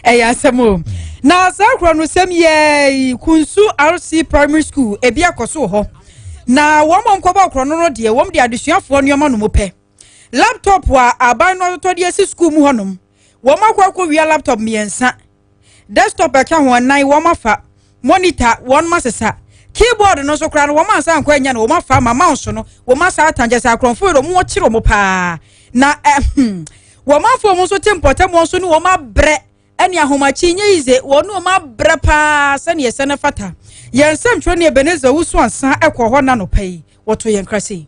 ɛyɛ asɛm o na saa kura no sɛm yɛ kunsu rc primary school ebi akɔso hɔ na wɔn a nkɔbɔ akɔrɔ no no deɛ wɔn de adesuafoɔ nneɛma no mu pɛ laptop a aban no atotɔ de asi sukuu mu hɔnom wɔn akɔ akɔ wia laptop mmiɛnsa desktop ɛka ho nan wɔn afa. monitor wɔn ma sesa keyboard no nso koraa no wɔn ansa nkɔ anya no wɔn afa ama mouse no wɔn asa atan kyɛ sɛ akorɔmfo yɛ wɔn kyerɛ wɔn paa na ɛhum wɔn afɔ wɔn nso te mpɔtam wɔn nso ne wɔn abrɛ ɛne ahomakye nye yize wɔn ne wɔn abrɛ paa sɛnea ɛsɛ ne fata yɛn nsɛm twerɛ ne ebenezer wusu ansa ɛkɔ hɔ na nɔpɛ yi wɔto yɛn krasɛ yi.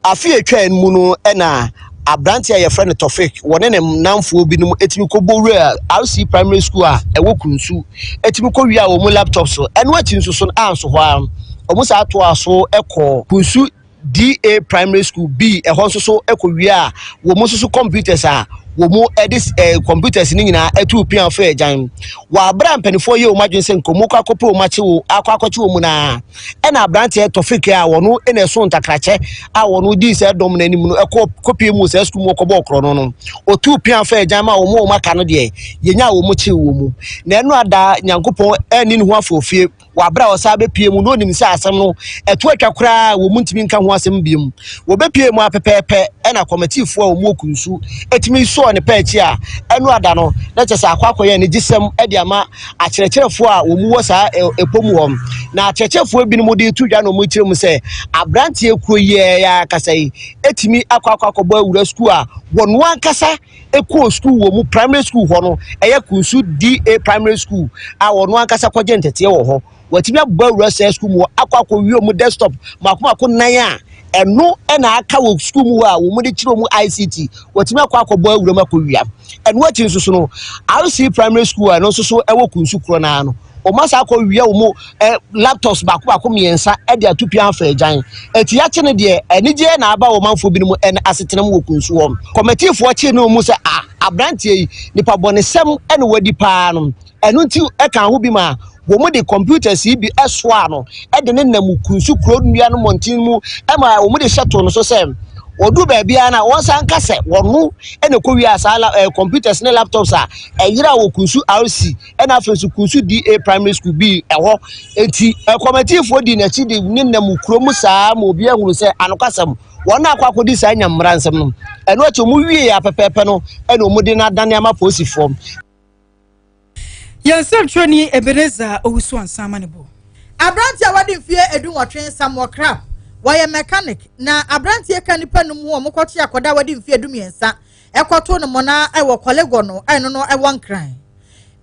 Afe a ɛtwaam mu no na aberanteɛ a yɛfrɛ no Tofik, wɔne ne nnamfoɔ binom tumi kɔbɔ wuraa RC Primary School a ɛwɔ Krunsu, tumi kɔwiaa wɔn laptops, ɛno akyi nso so no anso hɔ ara, wɔn san toaa so kɔɔ Krunsu DA Primary School B, ɛhɔ nso so kɔwiaa wɔn nso so computers a wɔde computers no nyinaa tuu pea faa agyan. Wɔ aberɛ a mpanimfoɔ yɛɛ wɔn adwene sɛ nka wɔkɔ akɔpɛ wɔn akye wɔn, akɔ akɔkye wɔn no ara, ɛna aberanteɛ tɔfik a wɔno ɛna ɛso ntakrakyɛ a wɔno dii sɛ dɔm no anim no ɛkɔ kɔpie mu sɛ sukuu mu ɔkɔbɔ ɔkorɔ no no ɔtuu pia fa agyan ma wɔn a wɔn aka no deɛ yɛnya a wɔn kyee wɔn mu na ɛno ada nyankopɔn ɛni ne ho afɔfie wɔ abere a ɔsan bɛpie mu na ɔnim sɛ asɛm no ɛto atwa koraa wɔn ntumi nka ho asɛm biom wɔbɛpie mu apɛpɛɛpɛ ɛna kɔmatifoɔ a wɔn ɔku nsu ɛtumi sɔɔ ne pɛ akyi a ɛno ada no na kyɛ sɛ akɔ akɔyɛ ne gyesɛm ɛde ama akyerɛkyerɛfoɔ a wɔn wɔ saa ɛpɔ mu hɔ na akyerɛkyerɛfoɔ binom de to dwa na wɔn kyerɛ mu sɛ aberanteɛ kuo yi ɛyɛ akasa yi ɛtumi akɔ akɔ akɔbɔ awura sukuu a wɔn ankasa ɛkɔɔ sukuu wɔ mu primary school hɔ no ɛyɛ kunsu DA primary school a wɔn ankasa kɔgye ntɛteɛ wɔ hɔ watumi abɔ awura sɛ sukuu mu akɔ akɔwie wɔn desktop mako mako nan a ɛno na aka wɔ sukuu mu hɔ a wɔn de kyerɛ wɔn ict watumi akɔ akɔbɔ awura mu akɔwia ɛno akyi nso so no rc primary school a ɛno nso so ɛwɔ kunsu korɔ no ara no wɔn asa akɔwia wɔn ɛ laptops baako baako mmiɛnsa ɛde ato pia afa agyan eti akyi no deɛ anigyeɛ na aba wɔn manfoɔ binom ɛna asetena mu wɔ kunsu hɔ kɔmɛtifoɔ kye ne wɔn mu sɛ a aberanteɛ yi nipa bɔnesɛm ɛna wadi paa no Ɛno nti ɛkaa ho bi maa wɔde computers yi bi soaa no de no nam Kunsu kuro nnua no mmɔnten mu ma wɔde hyɛ too no so sɛ wɔduru baabiara no a wɔnsan nka sɛ wɔno na ɛkɔwiaa saa eh, computers ne laptops a ɛyera wɔ Kunsu RC ɛna afei nso Kunsu DA primary school bi ɛhɔ enti kɔmatifoɔ di n'akyi de ne nam kuro mu saa ma obi ahunu sɛ anokwasɛm wɔn akɔ akɔdi saa nya mmara nsɛm no ɛno akyi wɔn wie apɛpɛɛpɛ no ɛna wɔn de no adane ama polisifoɔ Yɛn nsɛntwerɛni Ebenezer Owusu-Ansah ma ne bo. Aberanteɛ a wadi mfeɛ edunwɔtwe Samuel Krapp, wɔyɛ mechanic, na aberanteɛ ka nnipa num ho a wɔkɔkye akɔda a wadi mfeɛ dummiɛnsa ɛkɔto no mɔna ɛwɔ Korlegor no a ɛno no ɛwɔ Nkran.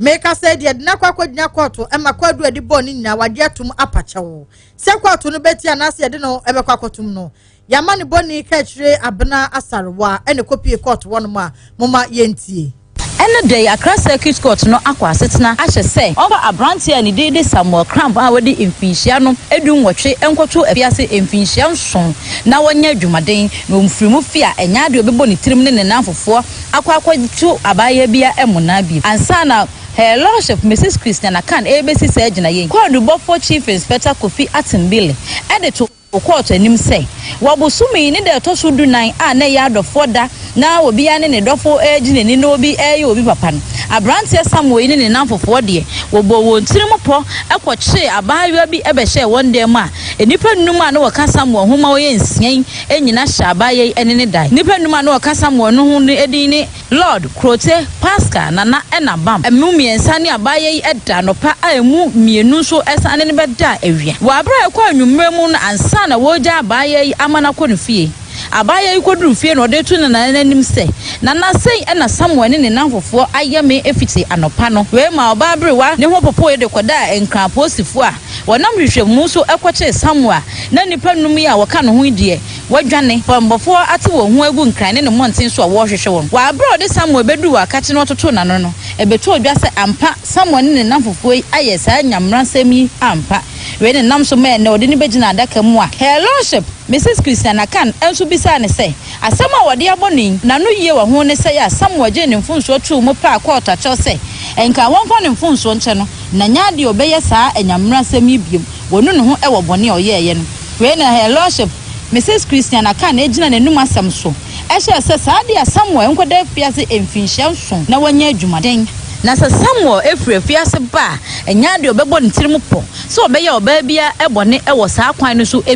Mekasa yi deɛ ɛde no akɔ akɔgyina kɔɔto ɛma kwaadu a ɛde bɔɔ no nyinaa wagye atom apakyɛw sɛ kɔɔto no bɛtie anaasɛ yɛde no ɛbɛkɔ akɔtom no. Yɛama ne bɔne kaakyire Abena Asarewa ɛna ɛkɔpie court hɔ nom a, momma yɛntie. Ɛnnɛ da yi, Accra Circuit Court no akɔ asetena ahyɛ sɛ wɔmfa aberanteɛ a ne din de Samuel Cramp a wadi mfinhyia no du nwɔtwe nkɔto afiase mfinhyia nson na wɔnyɛ adwumaden na wɔmfiri mu fie a ɛnyɛ adeɛ a ɔbɛbɔ ne tirim ne ne nnamfofoɔ akɔ akɔto abaayewa bi a ɛmmɔ naa bio ansa na Her Lordship Mrs Christiana Kan rebɛsi saa gyinaeɛ yi. Kwaadubɔfoɔ Chief Inspector Kofi Attenbile de to. Ɔkɔɔ so anim sɛ, Wɔ bosome yi ne da a ɛtɔ so dunan a na ɛyɛ adɔfoɔ da na obiara ne ne dɔfo regye n'ani na obi reyɛ obi papa no, aberanteɛ Samuel yi ne ne nnamfofoɔ deɛ, wɔbɔɔ wɔn tirim pɔ kɔkyeree abaayewa bi bɛhyɛɛ wɔn dan mu a nnipa nnum a na wɔka Samuel ho ma ɔyɛ nsia yi nyina hyɛ abaayewa yi ne ne dae. Nnipa nnum a na wɔka Samuel no ho no din ne. Lord, Krote, Paska, Nana ɛna Bam ɛmu mmiɛnsa ne abaayɛ yi ɛda anɔpa a ɛmu mmienu nso ɛsane no bɛda awia. Wɔ aberɛ a ɛkɔ anwummerɛ mu no ansa na wɔregya abaayɛ yi ama no akɔ ne fie. Abaayɛ yi kɔduru fie na ɔde to Nana no anim sɛ, Nana sei ɛna Samuel ne ne nnamfofoɔ ayɛ me fiti anɔpa no. Wei maa ɔbaa aberewa ne ho popoeɛ de kɔdaa Nkran polisifoɔ a wɔnam hwehwɛmu so kɔkyee Samuel na nnipa nnum yi a wɔka ne ho yi deɛ Wɔadwane. Bɔmmɔfo ate wɔn ho agu nkran ne ne mmɔnten so a wɔrehwehwɛ wɔn. Wɔ bere a wɔde Samuel beduu wɔ akakye na wɔtotoo n'ano no, ebetoo dwa sɛ ampa Samuel ne ne nnamfofoɔ yi ayɛ saa nyammaransɛm yi ampa. Wei na ɛnam so maa ɛnnɛ wɔde no begyina adaka mu a Her Lordship Mrs. Christiana Kan nso bisaa no sɛ, Asɛm a wɔde abɔ no yi, n'anoyie wɔ ho ne sɛe a Samuel gyee ne mfomsoɔ too mu paa kɔɔto akyerɛ sɛ ɛnka wɔmfa ne mfomsoɔ nkyɛ no na nyɛ adeɛ a ɔbɛyɛ saa nyammaransɛm yi bio, wɔnu ne ho wɔ bɔne a ɔyɛeɛ no Wei na Her Lordship, Mrs Christiana Khan gyina n'anum asɛm so hyɛɛ sɛ saa de a Samuel nkɔda afiase mfinhyia nson na wanya adwumaden. Na sɛ Samuel firi afiase ba a, ɛnyɛ ade a ɔbɛbɔ ne tirim pɔ sɛ ɔbɛyɛ ɔbaa biara bɔne wɔ saa kwan no so bi.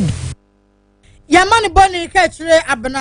Yɛmma no bɔne ka kyire Abena.